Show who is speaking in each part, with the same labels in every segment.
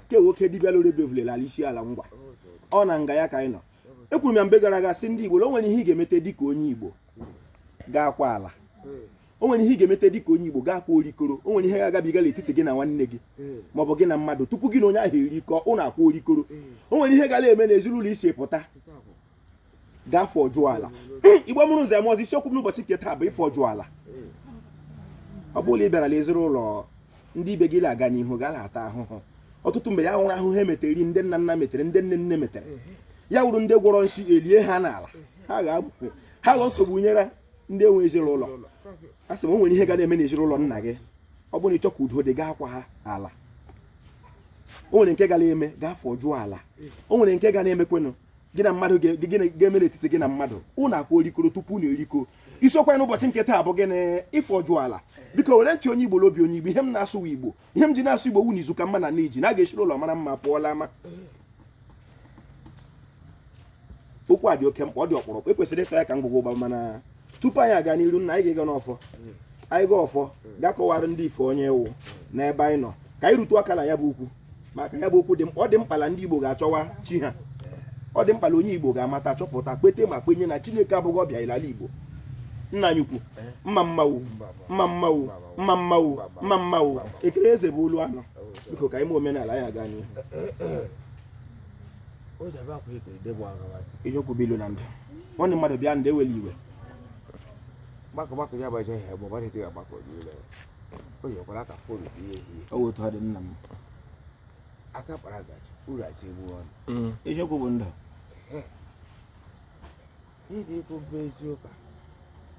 Speaker 1: ke nwoke dibịa lụrụ ebevule l'ala isiala ngwa ọ na nga ya ka anyị nọ ekwuru m ya mgbe gara aga sị ndị igbo na o nwere ihe ị ga-emete dịka onye igbo ga-akwa ala o nwere ihe ị ga-emete dịka onye igbo ga-akwa orikoro o nwere ihe ga-agabiga n'etiti gị na nwanne gị maọbụ gị na mmadụ tupu gị na onye ahụ erikọ ụnụ akwa orikoro o nwere ihe ga na-eme n'ezinụlọ i si pụta gaa fọjụọ ala igbo mụrụ nze mụọ ọzọ isiokwu m n'ụbọchị nke taa bụ ịfọjụ ala ọ bụ la ị bịara l'ezinụlọ ndị ibe gị aga n'ihu ga na-ata ahụhụ ọtụtụ mgbe ya wụrụ ahụhụ ha metere ndị nna nna metere ndị nne nne metere ya wụrụ ndị gwọrọ nsi elie ha n'ala ha ga-aghọ nsogbu nyere ndị nwe ezinụlọ asị m o nwere ihe ga na-eme n'ezinụlọ nna gị ọ bụrụ na ị chọ ka udo dị gaa kwa ala o nwere nke ga na-eme gaa fọjụọ ala o nwere nke ga na-emekwenụ gị na mmadụ ga-eme n'etiti gị na mmadụ ụnụ akwa orikoro tupu ụnụ erikọ isiokwu n'ụbọchị nke taa bụ gịnị ịfọjụ ala biko were ntị onye igbo n'obi onye igbo ihe m na-asụ igbo ihe m ji na-asụ igbo wụ na izu ka mma na nne ji na a ga-eshi l'ụlọ mara mma pụọ l'ama okwu a dị oke mkpa ọ dị ọkpụrụkpụ e kwesịrị ịta ya ka ngwọgwọ ụgba mana tupu anyị aga n'iru nna anyị ga-ega n'ọfọ anyị ga ọfọ gaa kọwara ndị ife onye ewu n'ebe anyị nọ ka anyị rutu aka na ya bụ ukwu maka ya bụ okwu dị ọ dị mkpa na ndị Igbo ga-achọwa chi ha ọ dị mkpa na onye Igbo ga-amata chọpụta kwete ma kwenye na Chineke abụghị ọbịa ilala Igbo nna anyị ukwu mma mmanwụ mma mmanwụ mma mmanwụ mma mmanwụ ekele eze bụ olu anọ biko ka ime omenala ya gaa n'ihu ijokwubilu na ndụ nwanne mmadụ bịa ndị ewele iwe gbakọ gbakọ ya gbaje ihe bụ ọbara eteghị agbakọ niile o nyekwara aka fon bụ ihe ihe o wetu ha dị nna m aka kpara gaji uru achi egbu ọnụ mm. eziokwu bụ ndụ ihe i kwu bụ eziokwu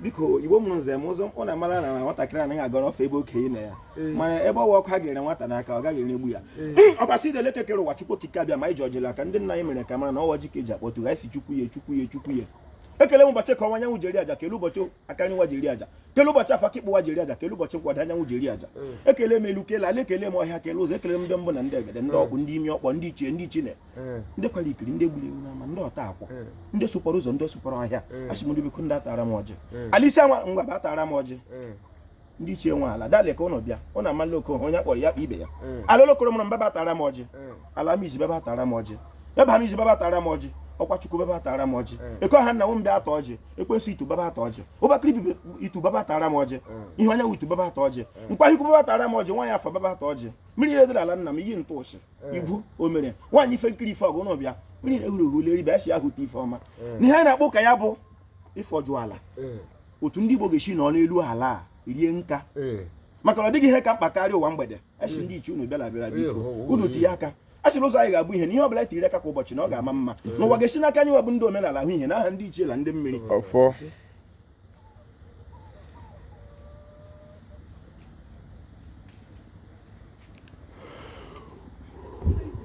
Speaker 1: biko igbo mụrụ nze mụọ ọzọ mkpụ na mara na nwatakịrị anaghị agọrọ ọfọ ebe okenye nọ ya mana ebe ọwa ọkụ a ga-ere nwata n'aka ọ gaghị eregbu ya ọbasi dị l'elu eke kere ụwa chukwu okike abịama anyị ji ọjị l'aka ndị nna anyị mere ka mara na ọ wụ ọjị ka e ji akpọtụ gị asị chukwu ya chukwu ya chukwu ya ekele m ụbọchị eke ọwụwa anyanwụ ji eri aja kele ụbọchị aka nri ụwa ji eri aja kele ụbọchị afọ aka ịkpa ụwa ji eri aja kele ụbọchị nkwọ ọdịda anyanwụ ji eri aja ekele m elu kele ala ekele m ọhịa kele ụzọ ekele m ndị mbụ na ndị egede ndị ọkpụ ndị imi ọkpọ ndị ichie ndị ichine eh. ndị kwara ikiri ndị gburu ewu n'ama ndị ọta akwụ eh. ndị sụkwara ụzọ ndị sụkwara ọhịa eh. asị m biko bịa tara m ọjị ala isiala ngwa bịa tara m ọjị ndị ichie nwe ala dale ka ụnụ bịa ụnụ amala oke onye kpọrọ ya kpọọ ibe ya ala olokoro mụrụ m bịa bịa tara m ọjị ala amizi bịa bịa tara m ọjị ebe amizi bịa bịa tara m ọjị ọkwa chukwu bịa bịa tara m ọjị eh. eke ọha nna m bịa taa ọjị ekwensu itu bịa bịa taa ọjị ụbakịrị bibi itu bịa bịa tara m ọjị eh. ihe anyanwụ itu bịa bịa taa ọjị eh. nkwa hikwu bịa bịa tara m ọjị nwaanyị afọ bịa bịa taa ọjị mmiri ihe dị l'ala nna m iyi ntụ ụsị eh. igwu o mere nwaanyị ife nkiri ife ọgụ n'ọbịa mmiri na-ehuru ehu leri bịa si ahụ ụtọ ife ọma eh. na ihe a na-akpọ ka ya bụ ịfọjụ ala eh. otu ndị Igbo ga-esi nọ n'elu ala a rie nka maka na ọ dịghị ihe ka mkpa karịa ụwa mgbede esi ndị ichie unu bịara bịara biko unu tinye aka a sịrị ụzọ anyị ga-abụ ihe na ihe ọbụla tiri aka kwa ụbọchị na ọ ga-ama mma n'ụwa ga-esi n'aka anyị wa bụ ndị omenala ahụ ihe n'aha ndị ichie na ndị mmiri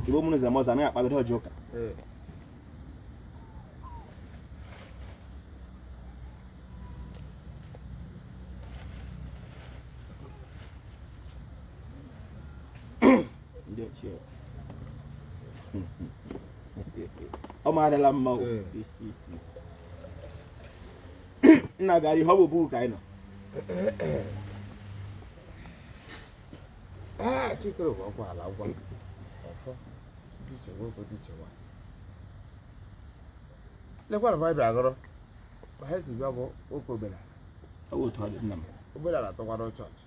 Speaker 1: Ibo munu zile moza na akpagide ọjọ ụka. Ndị ochie. Ọ ma adịla mma o. nna gara ihe ọ bụ buku ka anyị
Speaker 2: nọ ah, chikere bụ ịkwa ala ịgọ ọfọ ndị ichie nwoke ndị ichie nwaanyị lekwara m abịa agọrọ ma ha si bịa bụ oke omenala ọ bụ otu ọ
Speaker 1: dị nna m omenala tọkwara
Speaker 2: chọọchị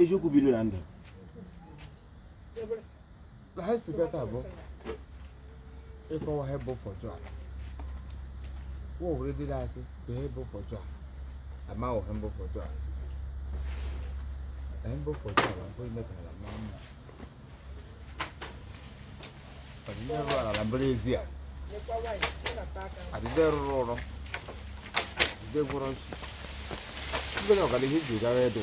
Speaker 2: eziokwu bilu na
Speaker 1: ndụ
Speaker 2: na ha si bịa taa bụ ịkọwa ihe bụ ịfọjụ ala nwa o nwere ndị na-asị bụ ihe bụ ịfọjụ ala ama wọ ihe bụ ịfọjụ ala ihe bụ ịfọjụ ala bụ ime ka ala maa mma ọ dị ndị rụrụ ala na mbere ezi a ọ dị ndị rụrụ ụrụ ọ dị ndị gwọrọ nsi ndị ọganihu ji gara ebe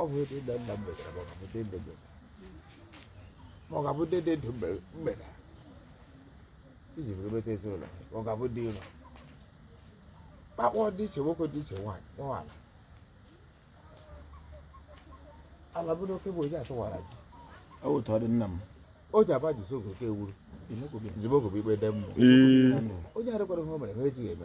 Speaker 2: ọ bụ ndị nna nna m metara ma ọ ga-abụ ndị nne m metara ma ọ ga-abụ ndị dị ndụ metara iji were meta ezinụlọ ma ọ ga-abụ ndị ụlọ kpakpọ ndị ichie nwoke ndị ichie nwaanyị kpọọ ala ala bụ n'oke bụ onye atụwara ji ọ wụ otu ọ
Speaker 1: dị nna m o ji aba ji
Speaker 2: sogo oke ewuru jimogo bụ ikpe ndị mmụọ onye arịkwara ihe o mere ha ejighị eme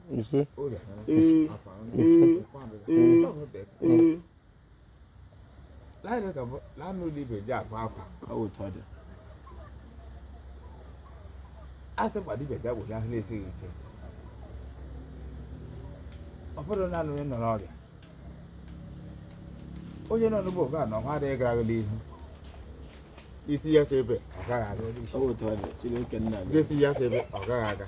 Speaker 2: You see? Ee, ee, ee, ee. Laịnụ ka bụ- laịnụ ụlọ ibe ji akwa akwa ọ wụ otu ọ dị. A sị kwa dibịa bịa gwọcha ahụ na-esighị ike. Ọ bụrụ na anụ onye nọ n'ọrịa. Onye nọ n'ugbo oge a na ọha adịghị aga n'ihu. Itinye aka ebe ọ gaghị aga. Ọ wụ otu ọ dị,
Speaker 1: Chineke nna gị. Ga-etinye aka ebe ọ gaghị
Speaker 2: aga.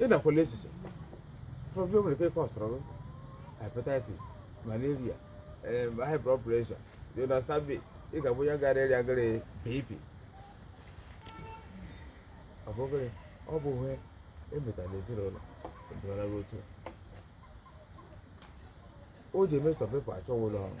Speaker 2: ị nakwala echiche ụfọdụ nwere ike ịkọsọrọ gị hepatitis malaria em, high blood pressure you understand me ị ga-abụ onye gara ịrịa gịrị BP ọ bụ gịnị ọ bụ ihe e metara n'ezinụlọ ndịmara gị otu a. o ji eme some people achọwa ụlọ ọgwụ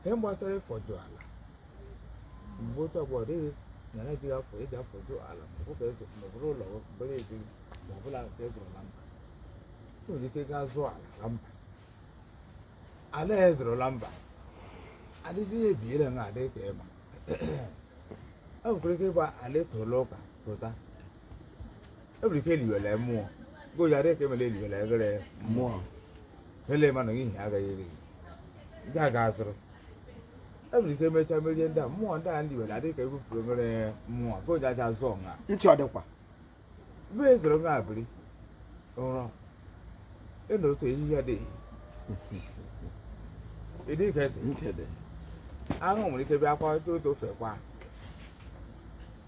Speaker 2: nke gbasara ịfọjụ ala mgbe otu ọgbọ ọ dịghị na ya jighị afọ eji afọjụ ala ma ọ bụ ka ịzụ ma ọ bụrụ ụlọ bụrụ ezi ma ọ bụla nke ịzụrụ na mba o nwere ike gaa zụọ ala na mba ala ya zụrụ na mba adịghị ya ebiere na adịghị ka ịma e nwekwara ike ịgba ala ịtụrụ ụka pụta ebiri ka eliwere mmụọ goji adịghị ka emere eliwere eghere mmụọ ele ma na ihe agaghị eri ndị a ga-azụrụ ebiri ka emechaa merie ndị a mmụọ ndị a ndị were adịghị ka ebupụrụ eghere mmụọ goji aja zụọ nha ntị ọ dịkwa
Speaker 1: mgbe e
Speaker 2: zoro nha abiri ụrọ ịna otu ehihie adịghị ịdị ka ede nkede ahụ nwere ike bịa kwa otu otu ofe kwa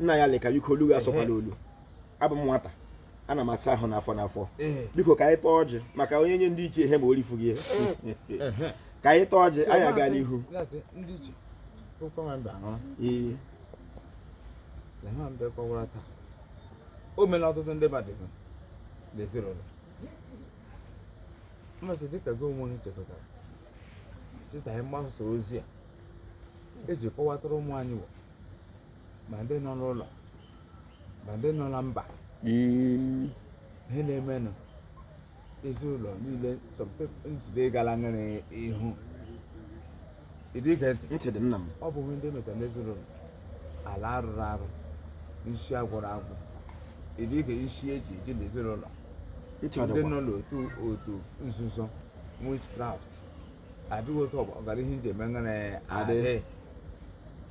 Speaker 1: nna ya leka biko olu ya sọkwala olu abụ m nwata ana m asa ahụ n'afọ n'afọ biko ka anyị taa ọjị maka onye nye ndị ichie ihe ma orifu gị ka anyị taa ọjị anyị aga n'ihu
Speaker 2: o mere ọtụtụ ndị mmadụ n'ezinụlọ mmasị dịka gị onwe chekọtara site na mgbasa ozi a eji kọwatara ụmụ anyị ma ndị nọ n'ụlọ ma ndị nọ na mba Mm. ihe na-emenụ ezinụlọ niile some people njide gara ngara ihu ịdị ige ntị ntị dị nna
Speaker 1: m ọ bụ ihe ndị metara
Speaker 2: n'ezinụlọ ala arụrụ arụ nsi agwọrọ agwọ ịdị ige nsi eji eji n'ezinụlọ ntị ọ ndị dịkwa nọ n'otu otu nzuzo witchcraft adịghị otu ọgbọ ọgara ihe nji eme ngara Adị. adịghị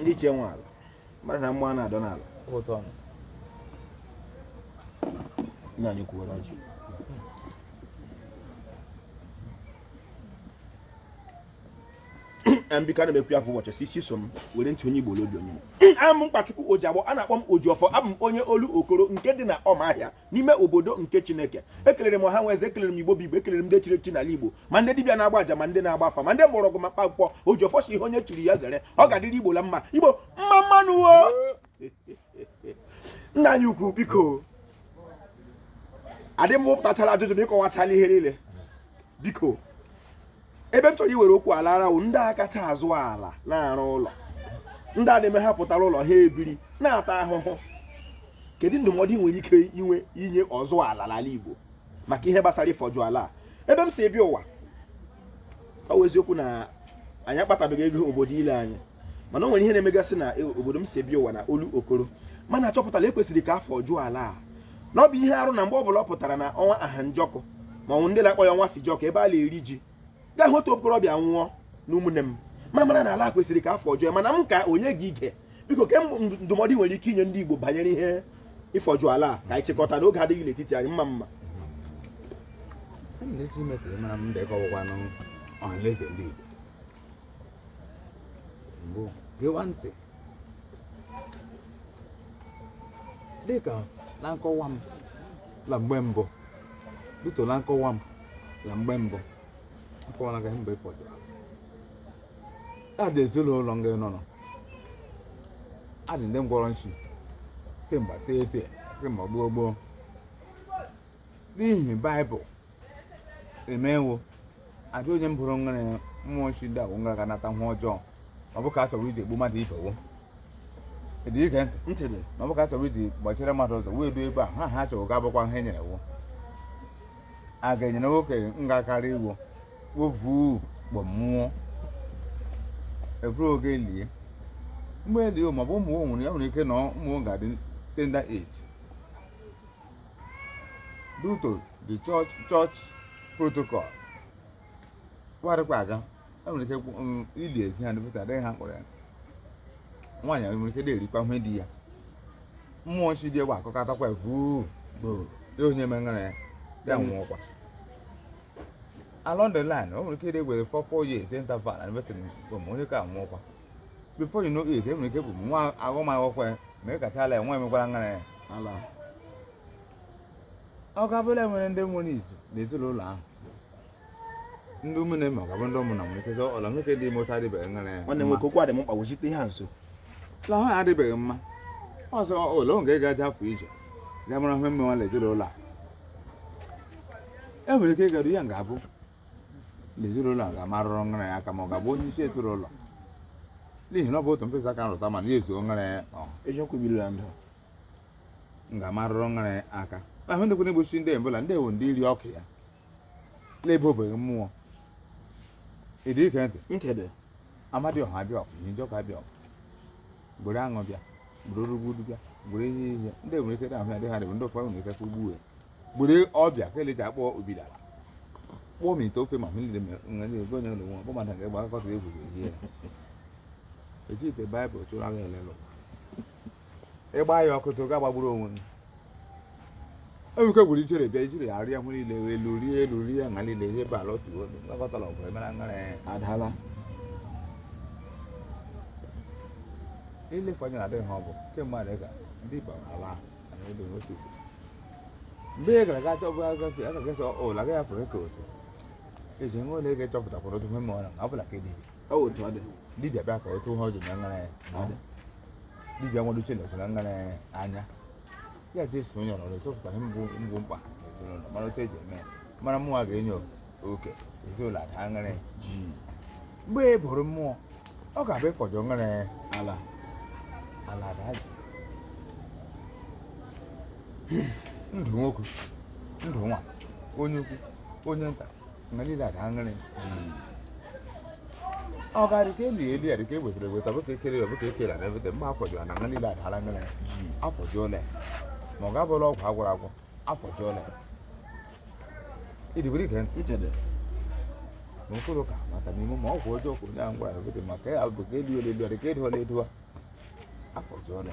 Speaker 1: ndị ichie nwe ala mmadụ na mmụọ na-adọ
Speaker 2: n'ala nna
Speaker 1: anyị ukwu were ọjị biko ana m ekwu ya kwa ụbọchị sisi so m were ntị onye Igbo la obi onye Igbo aha m mkpachukwu ojiagbọ a na-akpọ m ojiọfọ abụ m onye olokoro nke dị na ọmahịa n'ime obodo nke chineke ekelere m ọha na eze ekelere m igbo bụ igbo ekelere m ndị chiri echi n'ala igbo ma ndị dibịa na-agba aja ma ndị na-agba afa ma ndị mgbọrọgwụ ma mkpa akwụkwọ ojiọfọ sị ihe onye chiri ya zere ọ ga-adịrị igbo la mma igbo mma mma nụ nna anyị ukwu biko adị m pụtachara ajụjụ m ịkọwachala ihe niile biko ebe m chọrọ iwere okwu alara wụ ndị a kacha azụ ala na-arụ ụlọ ndị a na-eme ha pụtara ụlọ ha ebiri na-ata ahụhụ kedu ndụmọdụ ị nwere ike inwe inye ọzụ ala n'ala Igbo maka ihe gbasara ịfọjụ ala ebe m si ebi ụwa ọ bụ eziokwu na anyị akpatabeghị ego obodo ile anyị mana o nwere ihe na-emegasị na e, obodo m si bịa ụwa na Olokoro mana achọpụtala e kwesịrị ka a fọjụọ ala a na ọ bụ ihe arụ na mgbe ọ bụla ọ pụtara na ọnwa Ahanjọkụ ma o nwere ndị na-akpọ ya ọnwa Fijọkụ ebe a na-eri ji ga-ahụ otu okorobịa nwụọ na ụmụnne m ma mara na ala kwesịrị ka a fọjụọ mana m ka onye gị ige biko ke ndụmọdụ i nwere ike inye ndị Igbo banyere ihe ịfọjụ ala a ka anyị chịkọta n'oge adịghị n'etiti anyị mma mma ndị Chineke mara m ndị kọwakwanụ ọhaneze ndị Igbo
Speaker 2: mbụ gewa ntị dịka na nkọwa m na mgbe mbụ bido na nkọwa m na mgbe mbụ akọwara gị mgbe ụfọdụ adị ezinụlọ nga nọ nọ adị ndị ngwọrọ nshi kemgbe tete kemgbe gboo gboo n'ihi baịbụl eme wo adị onye mbụrụ nwere mmụọ nshi ndị agwụ nga ga-anata nwa ọjọọ ma ọ bụ ka a chọrọ iji egbu mmadụ ibe wo dị ige ntị ma ọ bụ ka a chọrọ iji gbachire mmadụ ụzọ wee ruo ebe a ha ha chọrọ ga-abụkwa ihe e nyere wo a ga-enyere nwoke nga karịa iwo wo vu kpọọ nwụọ e vuru o ga-eli mgbe e li o ma ọ bụ ụmụ o nwere ya nwere ike na ụmụ o ga-adị tender age due to the church church protocol kwarịkwa aga e nwere ike mm, ili ezi ha dịpụta adịghị ha kpọrọ ya nwaanyị nwere ike na-erikwa ihe di ya mmụọ nshi dị egwu akọkatakwa vuu gbuo onye mengara ya ya nwụọkwa along the line o nwere ike ịdị were for four years interval and wetara mgbe onye ka nwụọkwa before you know it e nwere ike bụ nwa agụmakwụkwọ ya ma ị kachala ya nwa emekwara ngara ya ala ọ ga-abụla nwere ndị nwere izu na ezinụlọ ahụ ndị ụmụnne ma ọ ga-abụ ndị ụmụna nwere ike ọla nwoke dị ime otu adịbeghị ngara ya nwanne nwoke okwu adị m mkpa
Speaker 1: wechite ihe a nso lahụ ya
Speaker 2: adịbeghị mma ọzọ ole oge ga-aja afọ ije ga mara ihe mmenwa na ezinụlọ a e nwere ike ịgara ihe ga-abụ na ezinụlọ a ga-amarụrụ nra ya aka ma ọ ga-abụ onye isi ezinụlọ n'ihi na ọ bụ otu mkpịsị aka rụta mmanụ ya ezuo nra ya eziokwu biri na ndụ m ga-amarụrụ nra ya aka ahụ ndị kwere egbochi ndị ebula ndị ewu ndị iri ọkụ ya na-ebe obeghị mmụọ ịdị ike ntị nkede
Speaker 1: Amadioha
Speaker 2: abịa oku Ihenjọkụ abịa oku gbere aṅụ bịa gburugburu gburu ihe ihe ndị nwere ike na-ahụ ya dị ha dịbụ ndị ụfọdụ nwere ike ka ugbu gburu ọbịa ka eleji akpọ obila kpọọ m ite ofe ma hụ ndị nwere ego onye ụlọ nwa bụ mmadụ ga-egba akụkọ ka egwu ehi ya eji ite baịbụl chụrụ agha elelụ ịgba ya ọkụ tụ ga gbagburu onwe ewuke gwuru ichere bịa ijiri arịa ahụ niile elu rie elu rie nha niile ihe ebe ala otu obi mkpakọtara ọgụ emere ngara adala ilefe anya na adịghị ha ọ bụ kemgbe adịghị ka ndị igbo ala na ebe otu mgbe ị gara gacha ọbụ agafe aka gesa ụlọ agaghị afọ ka otu eji nwe ole ga-echọpụtakwara otu ihe ma ọ na ọ bụla ka edebe ọ wụ otu
Speaker 1: ọ dị dibịa bịa ka otu
Speaker 2: ha ọ dị na ngara ya ọ dị dibịa nwere uche na-ekwu na ngara ya anya ya ji eso onye ọrụ chọpụta ihe mbụ bụ mkpa n'ezinụlọ mara otu eji eme ya mara mmụọ a ga-enye oke ezinụlọ ada ngara ya ji mgbe e buru mmụọ ọ ga-abụ ịfọjọ ngara ya
Speaker 1: ala
Speaker 2: ala ada ji ndụ nwoke ndụ nwanyị onye ukwu onye nta nga niile adala ngara ọ ga-adị ka eli eli adị ka ewetara eweta bụ ka ekele bụ ka ekele na eweta mma afọjọọla nga niile adala ngara afọjọọla ma ọ ga-abụrụ ọgwụ agwọrọ agwọ afọjọọla idigwere ike ichede na mkpụrụ ụka maka n'ime ma ọgwụ ọjọọ kwuru ya ngara eweta maka ya bụ ka elu elu elu adị ka edola edo afọjọọla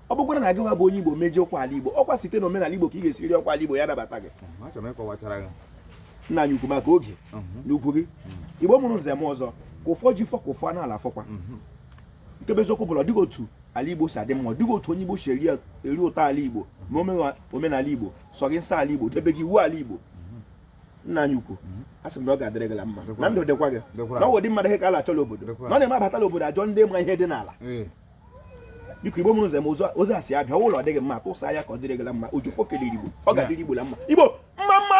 Speaker 1: ọ bụkwara na gị nwa bụ onye Igbo meji ọkwa ala Igbo ọkwa site na omenala Igbo ka ị ga-esiri ọkwa ala Igbo ya nabata gị nna anyị ukwu maka oge mhm. na ugwu gị mhm. Igbo mụrụ nze mụọ ọzọ ka ụfọ ji fọ ka ụfọ n'ala fọkwa mhm. nke bụ eziokwu bụ la ọ dịghị otu ala Igbo si adị mma ọ dịghị otu onye Igbo si eri ụtọ ala Igbo ma omenala Igbo sọghị nsọ ala Igbo debeghị iwu ala Igbo nna anyị ukwu mhm. a sị m na ọ ga-adịrị gị mma na ndụ dịkwa gị na ọnwụ ụdị mmadụ ihe ka a na-achọ la obodo na ọ na-eme abata la obodo achọọ ndị ma ihe dị n'ala biko igbo mụrụ nze mụọ ọzọ a sị abịa ụlọ ọ dịghị mma tụsa ya ka ọ dịrị gị mma ojufọ kelere igbo ọ ga-adịrị igbo la mma igbo mma mma nụ